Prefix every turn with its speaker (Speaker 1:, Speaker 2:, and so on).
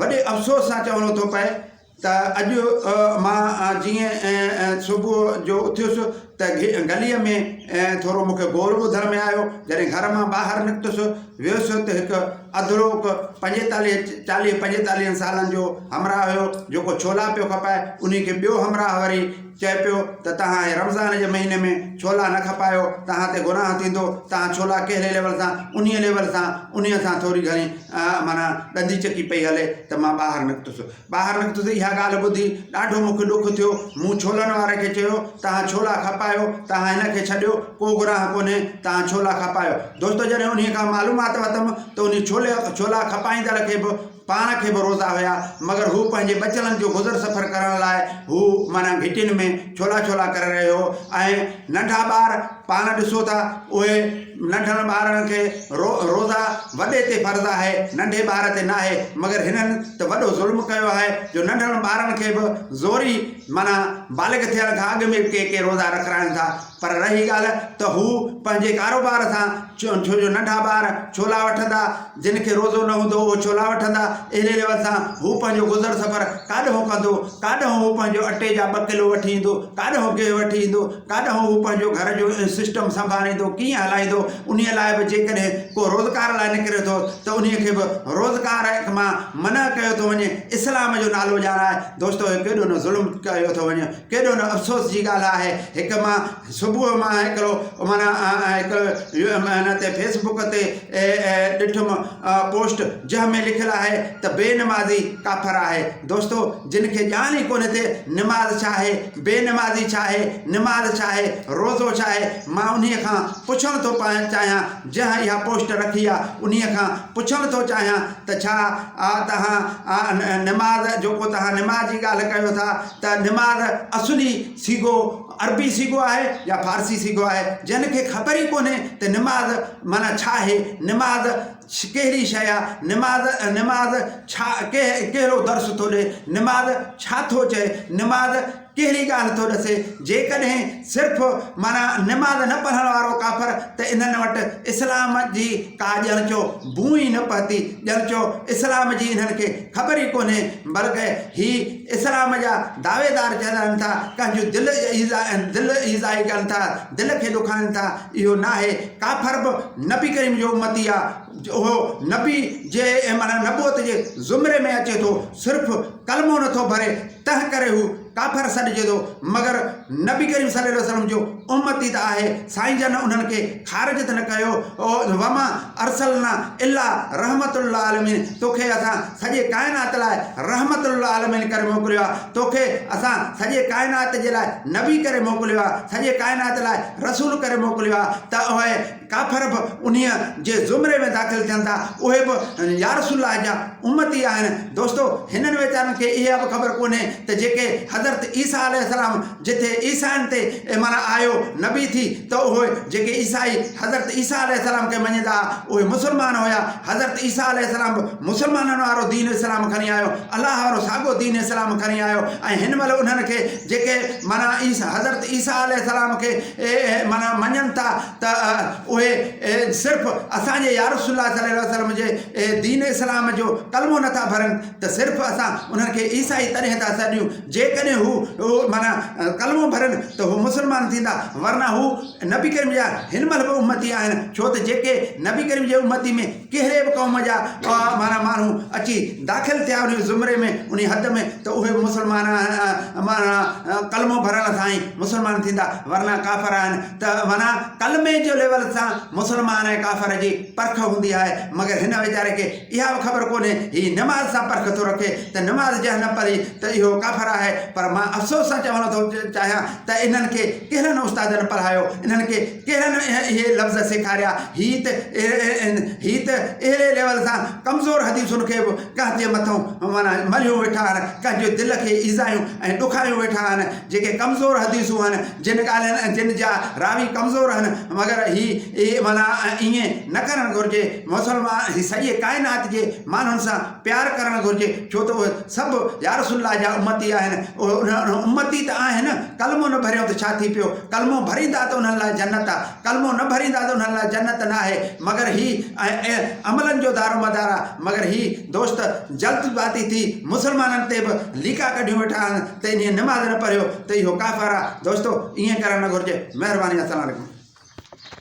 Speaker 1: وڏي افسوس سان چوڻو ٿو پئي ته اڄ مان جيئن صبح جو اٿيس ته گليء ۾ ٿورو مون کي گول ٻڌڻ ۾ آيو جڏهن گهر مان ٻاهر نڪتس ويس ته هڪ اڌڙوڪ پنجيتاليهه چاليهه پنجيتاليهن سالن جو همراهه هيو جيڪو ڇولا پيو کپائي انهي کي ٻيو همراهه وري چئي پيو ته توهان هي رمضان جي مهيني ۾ ڇولا نه کپايو توهان تي گناهه ٿيندو توهان ڇولا ڪهڙي ليول سان انهي ليول سان انهي سان ٿوري گهڻي معنيٰ ڏندي چڪي پئي هلي ته مان ٻاهر نڪتس ٻاهر نڪتس اها ڳالهه ٻڌي ڏاڍو مونکي ڏک ٿيو مون ڇولن واري کي چيو توهان ڇولا کپايو توهان هن کي ڇڏيو ڪو گناهه ڪونهي توهان ڇولا کپايو دوستو جڏهن انهي کان معلومات ورتم ته انهي ڇولي ڇولا کپائيندڙ کي به پاڻ کي به روزا هيا مگر هو پنهنجي ٻچڙن جو گذر سفر ڪرڻ لاء هو معنيٰ گهٽين ۾ ڇولا ڇولا ڪري رهيو هو ۽ ننڍا ٻار پاڻ ڏسو ٿا اهي ننڍڙن ٻارڙن کي رو روزا وڏي تي فرض آهي ننڍي ٻار تي ناهي مگر هنن ته وڏو ظلم ڪيو آهي جو ننڍڙن ٻارڙن کي به زوري معنيٰ بالغ ٿيڻ کان اڳ ۾ ڪي ڪي روزا رکرائن ٿا پر رهي ڳالهه ته هو پنهنجي ڪاروبار سان ڇو جو ننڍا ٻار ڇولا وٺندا، جن کي روزو نه هوندو اهي ڇولا وٺندا، اهڙي ريوت سان هو پنهنجو گذر سفر ڪاڏهون ڪندو، ڪاڏهون هو پنهنجو اٽي جا ٻه ڪلو وٺي ايندو، ڪاڏهون گيهه وٺي ايندو، ڪاڏهون هو پنهنجو گهر جو سسٽم سنڀاليندو، ڪيئن هلائيندو، انهيء لاء به جيڪڏهن ڪو روزگار لاء نڪري ٿو ته انهيء کي به روزگار مان منع ڪيو ٿو وڃي، اسلام جو نالو ڄاڻائي دوستو هي ڪيڏو نه ظلم ڪيو ٿو وڃي. ڪيڏو نه افسوس جي ڳالهه آهي هڪ مان صبح مان هڪڙو معنيٰ هڪڙو معنيٰ تي فيسبڪ تي ڏٺم پوسٽ جنهن ۾ لکيل آهي ته بي نمازي ڪافر آهي دوستو جن کي ڄاڻ ئي ڪونهي ته نماز ڇا آهي بي نمازي ڇا آهي نماز ڇا آهي روزو ڇا آهي مان انهي کان پڇڻ ٿو چاهيان جنهن اها پوسٽ رکي آهي انهي کان پڇڻ ٿو چاهيان ته ڇا توهان نماز جيڪو توهان نماز جي ڳالهه ڪيو ٿا ته نمار اصلي صيغو عربي صيغو آهي يا فارسي صيغو آهي جنھن کي خبر ئي ڪونھي ته نمار معنيٰ ڇا آهي نمار ڪهڙي شيء آهي نمار نمار ڇا ڪهڙو درس ٿو ڏئي نمار ڇا ٿو چئي نمار ڪهڙي ڳالھه ٿو ڏسي جيڪڏهن صرف معنيٰ نمار نه پڙهڻ وارو ڪافر ته انھن وٽ اسلام جي ڪا ڄڻ چو بوء ئي نه پهتي ڄڻ چو اسلام جي انھن کي خبر ئي ڪونھي بلڪه هي اسلام جا دعويدار چئي رهن ٿا ڪنهن جون دل ايذاء دل ايذائي ڪن ٿا دل کي ڏکائن ٿا اهو ناهي ڪافر به نبي ڪريم جو امتي آ اهو نبي جي معنيٰ نبوت جي زمري ۾ اچي ٿو صرف ڪلمو نٿو ڀري تنهن ڪري هو ڪافر سڏجي ٿو مگر نبي ڪريم صلي الله عليه وسلم جو امتي ته آهي سائين جن انهن کي خارج ته نه ڪيو وما ارسلنا الا رحمت للعالمين توکي اسان سڄي ڪائنات لاء رحمت للعالمين ڪري موڪليو آهي توکي اسان سڄي ڪائنات جي لاء نبي ڪري موڪليو آهي سڄي ڪائنات لاء رسول ڪري موڪليو آهي ته اهي ڪافر به انهيء جي زمري ۾ داخل ٿين ٿا، اهي به يارسول الله جا امتي آهن. دوستو! هنن ويچارن کي اها به خبر ڪونهي ته جيڪي حضرت عيسيٰ عليه السلام جٿي عيسائين تي ايمان آيو، نبي ٿي، ته اهي جيڪي عيسائي حضرت عيسيٰ عليه السلام کي مڃيندا ها، اهي مسلمان هيا. حضرت عيسيٰ عليه السلام به مسلمانن وارو دين اسلام کڻي آيو، الله وارو ساڳو دين اسلام کڻي آيو ۽ هن مهل انهن کي جيڪي معنيٰ حضرت عيسيٰ عليه السلام کي معنيٰ مڃن ٿا ته اهي صرف اسان جي يارسول الله صلي الله وسلم جي دين اسلام جو ڪلمو نٿا ڀرن ته صرف اسان انهن کي عيسائي تڏهن ٿا سڏيون جيڪڏهن هو معنيٰ ڪلمو ڀرن ته هو مسلمان ٿيندا ورنه هو نبي ڪريم جا هن مهل به امتي آهن ڇو ته جيڪي نبي ڪريم جي امتي ۾ ڪهڙي به قوم جا اها معنيٰ ماڻهو اچي داخل ٿيا انهي زمري ۾، انهي حد ۾، ته اهي به مسلمان آهن، معنيٰ ڪلمو ڀرڻ سان ئي مسلمان ٿيندا، ورنه ڪافر آهن، ته معنيٰ ڪلمي جي ليول سان مسلمان ۽ ڪافر جي پرک هوندي آهي، مگر هن ويچاري کي اها به خبر ڪونهي، هي نماز سان پرک ٿو رکي، ته نماز جنهن نه پڙهي ته اهو ڪافر آهي، پر مان افسوس سان چوڻ ٿو چاهيان ته انهن کي ڪهڙن استادن پڙهايو، انهن کي. ڪهڙن اهي لفظ سيکاريا؟ هي ته هي ته اهڙي ليول سان ڪمزور حديثن کي به ڪنهن جي مٿئون معنيٰ ملهيون ويٺا آهن، ڪنهن جي دل کي ايذايون ۽ ڏکايون ويٺا آهن، جيڪي ڪمزور حديثون آهن، جن ڳالهين ۽ جن جا راوي ڪمزور آهن، مگر هي اهي معنيٰ ائين نه ڪرڻ گهرجي، مسلمان سڄي ڪائنات جي ماڻهن سان پيار ڪرڻ گهرجي، ڇو ته اهي. سڀ يا رسول الله جا امتي آهن. اهي امتي ته آهن، ڪلمو نه ڀريون ته ڇا ٿي پيو؟ ڪلمو ڀريندا ته انهن لاء جنت آ، ڪلمو نه ڀريندا ته انهن لاء جنت ناهي. مگر هي ۽ عملن جو دارومدار آ. مگر هي دوست جلد باتي ٿي مسلمانن تي به ليڪا ڪڍيون ويٺا آهن ته انهيء نماز نه پڙهيو ته اهو ڪافر آ. دوستو! ائين ڪرڻ نه گهرجي. مهرباني السلام عليڪم.